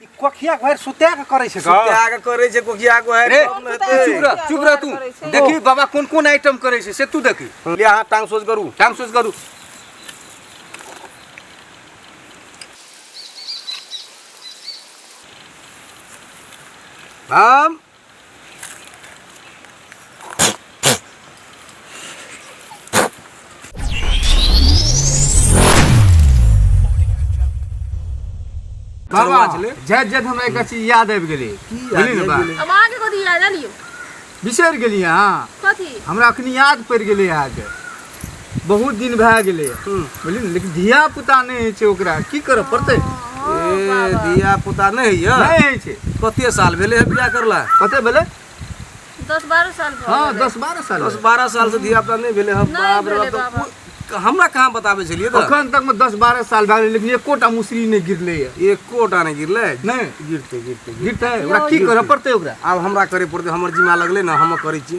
कोखिया घर सुत्या के करे छै का त्याग करे छै कोकिया को है रे तब ने तू चुप हेतै। रह चुप रह तू करै छै। देखी बाबा कोन कोन आइटम करे छै से तू देखी ले अहाँ टांग सोच करू टाइम सोच करू हम बाबा जैत जैत हमरा एकटा चीज याद आबि गेलै बुझलियै ने बा अब आगे कथी याद आलियो बिसरि गेलियै अहाँ कथी हमरा अखनी याद पड़ि गेलै अहाँके बहुत दिन भए गेलै बुझलियै ने लेकिन धिया पुता नहि होइ छै ओकरा की करऽ पड़तै ए धिया पुता नहि होइए नहि होइ छै कते साल भेलै है बियाह करला कते भेलै दस बारह साल भऽ हँ गेलै। दस बारह साल दस बारह साल से धिया पुता नहि भेलै है नहि बाप रे भेलै बाप बाबा। तऽ हमरा कहाँ बताबै छलियै तऽ अखन तक मे दस बारह साल भए गेलै लेकिन एकोटा मुसरी नहि गिरलै है एकोटा नहि गिरलै नहि गिरतै गिरतै गिरतै। गिरतै ओकरा की करऽ पड़तै ओकरा आब हमरा करे पड़तै हमर जिम्मा लगलै ने हम करै छी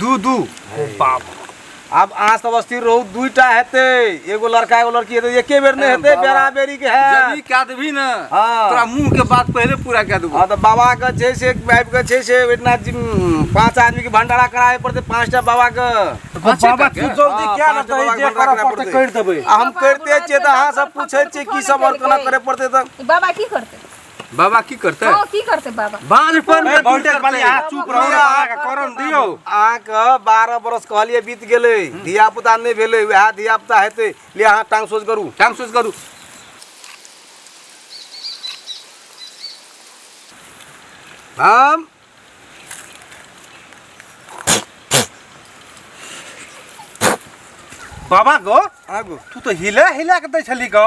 दू दू ओ बाप आब अहाँ सब स्थिर रहू दूटा हेतै एगो लड़का एगो लड़की हेतै एके बेर नहि हेतै बेरा बेरी के जब ई है कए देबही ने हाँ। तोरा मुंह के बात पहिले पूरा कए देबो हँ तऽ बाबाके छै से आबि कऽ छै से ओहिठिना जिम पाँच आदमीके भंडारा कराबे पड़तै पाँचटा बाबाके पाँचे बाबा करके? तू जल्दी हाँ, क्या पाँच रहता बाबा है जे के करऽ भंडारा पड़तै कराबऽ करि देबै आ हम करिते छियै तऽ अहाँ सब पूछै छियै की सब और केना करे पड़तै तऽ बाबा की करते बाबा की करते हाँ की करते बाबा बालपन ए, बहुत देर बाली, आ, चुप रहू रे, बाबा के करम दियौ। अहाँ के बारह बरस कहलिए बीत गेलै धिया पुता नहि भेलै वएह धिया पुता हेतै ले अहाँ टांग सोच करू टांग सोच करू हम बाबा गो आगू तू तो हिला हिला के दै छली गो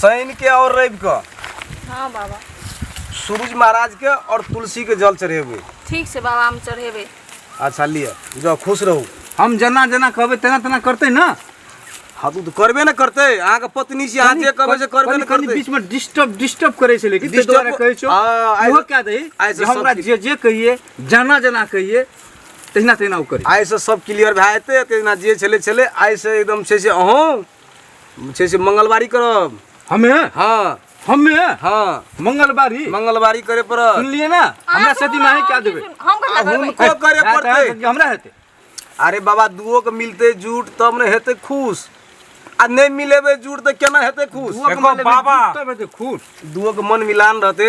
शनि के और रवि के हाँ बाबा सूरज महाराज के और तुलसी के जल चढ़ेबे ठीक से बाबा हम चढ़ेबे अच्छा लिए जाओ खुश रहू हम जना जना कहबे तेना तेना करते ना हाँ तू तो करबे ना करते अहाँ के पत्नी से अहाँ जे कहबे से करबे ना कनी- कनी करते बीच में डिस्टर्ब डिस्टर्ब करे छै लेकिन Disturb- डिस्टर्ब करे छो आ, आइ- ओहो क्या दही आइ से जे हमरा सब जे जे कहिए जाना जाना कहिए तहिना तहिना ओ करी आइ से सब क्लियर भए जेतै तेना जे छलै छलै आइ से एकदम छै से अहूँ छै से मंगलवारी करब हमे हाँ हमे हाँ मंगलवारी मंगलवारी करे पड़त सुनलिए ना हमरा सती माहे क्या देबे हम आ कहिया करबै हुनको करे हाँ, तोरा पड़तै सती हमरा हेते अरे बाबा दुओ के मिलते जुट तब ने हेते खुश आ नहीं मिलेबे जुट तो केना हेते खुश दुआ के देखो मन लेबे, बाबा। तब हेते खुश दुओ के मन मिलान रहते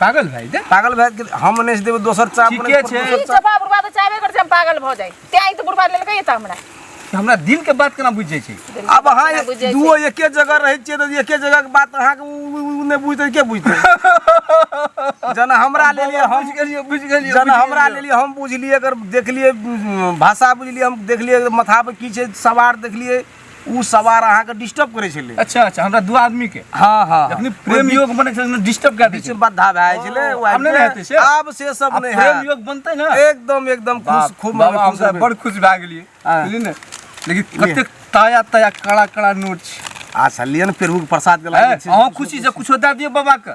पागल भाई दे पागल भाई के हम नहीं देबे दोसर चाप ठीके नहीं छै। देबे। जब बुढ़वा तो चाहबे कर हम पागल भ जाए ते आई तो बुढ़वा ले लेके एता हमरा कि हमरा दिल के बात केना बुझ जाय छै अब अहाँ ना बुझै छै। दुओ एके जगह रहै छियै तऽ एके जगह के बात अहाँ के उ- उ- उ नहि बुझतै के बुझतै जेना हमरा ले लिए हम बुझ गेलियै बुझ गेलियै जेना हमरा ले लिए हम बुझलियै अगर देखलियै उम, भाषा बुझलियै हम देखलियै अगर माथा पर की छै सवार देखलियै उ सवार अहाँ के डिस्टर्ब करे छले अच्छा अच्छा हमरा दू आदमी के हां हां अपनी प्रेम योग बने छले ने डिस्टर्ब कर दे छले बाधा भाई छले ओ, आब नहीं रहते से। अब से सब अब नहीं प्रेम है योग बनते ना एकदम एकदम खुश बाप, खूब बाबा हम खुश सब रहबै। बड़ खुश भए गेलियै हाँ। बुझलियै ने लेकिन कतेक ताया ताया कड़ा कड़ा नोट छै आ सलियन पेरू के प्रसाद के हैं? लागे छै अहाँ खुशी से कुछो दए दियौ बाबा के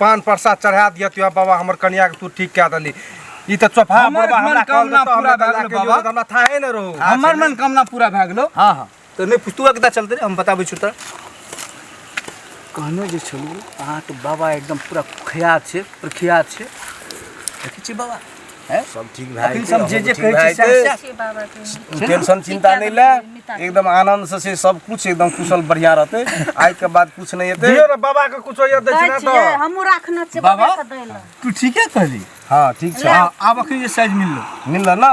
पान प्रसाद चढ़ा दिया तू बाबा हमर कन्या के तू ठीक कह दली ई त चोफा हमर बाबा हमरा कॉल मनोकामना करता पूरा हमरा भए गेल लाके बाबा। दियो, हमरा थाहे न रहो हमर मन कामना पूरा भए गेलो हाँ हाँ तो नहीं पुस्तुआ कितना चलते रे हम बताबै छु त कहने जे छलू अहाँके बाबा एकदम पूरा खुयात छै प्रख्यात छै देखै छी बाबा हैं? सब ठीक भए अखन जेतै, सब जे अहूँ जे ठीक कहै भए छै सएह- जेतै। सएह बाबा के टेंशन चिंता नहि ले एकदम आनंद से से सब कुछ एकदम कुशल बढ़िया रहते आइ के बाद कुछ नहीं हेतै दियो ने बाबा के कुछ होइए दै दक्षिणा छियै दऽ हमहूँ राखने छियै बाबा? बाबा के दै लए तू ठीके कहली हाँ ठीक छै हाँ, आब अखन जे साइज मिललो मिलल ना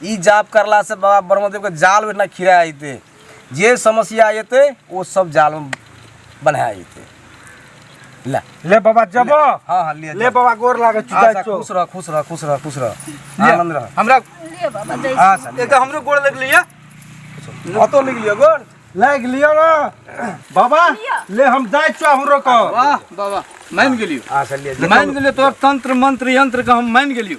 ई जाप करला से बाबा ब्रह्मदेव के जाल में ना खिरा आते जे समस्या आते वो सब जाल में बना आते ला ले बाबा जब हाँ हाँ ले ले बाबा गोर लागे चुदा अच्छा चो खुश रह खुश रह खुश रह खुश रह आनंद रह हमरा ले बाबा जय अच्छा ले। एगो हमरो गोड़ लग लिया अतो लिख लियो गोड़ लाग लियो ना बाबा ले हम जाय चो हमरो को वाह बाबा मान गेलियो अच्छा ले मान गेलियो तोर तंत्र मंत्र यंत्र के हम मान गेलियो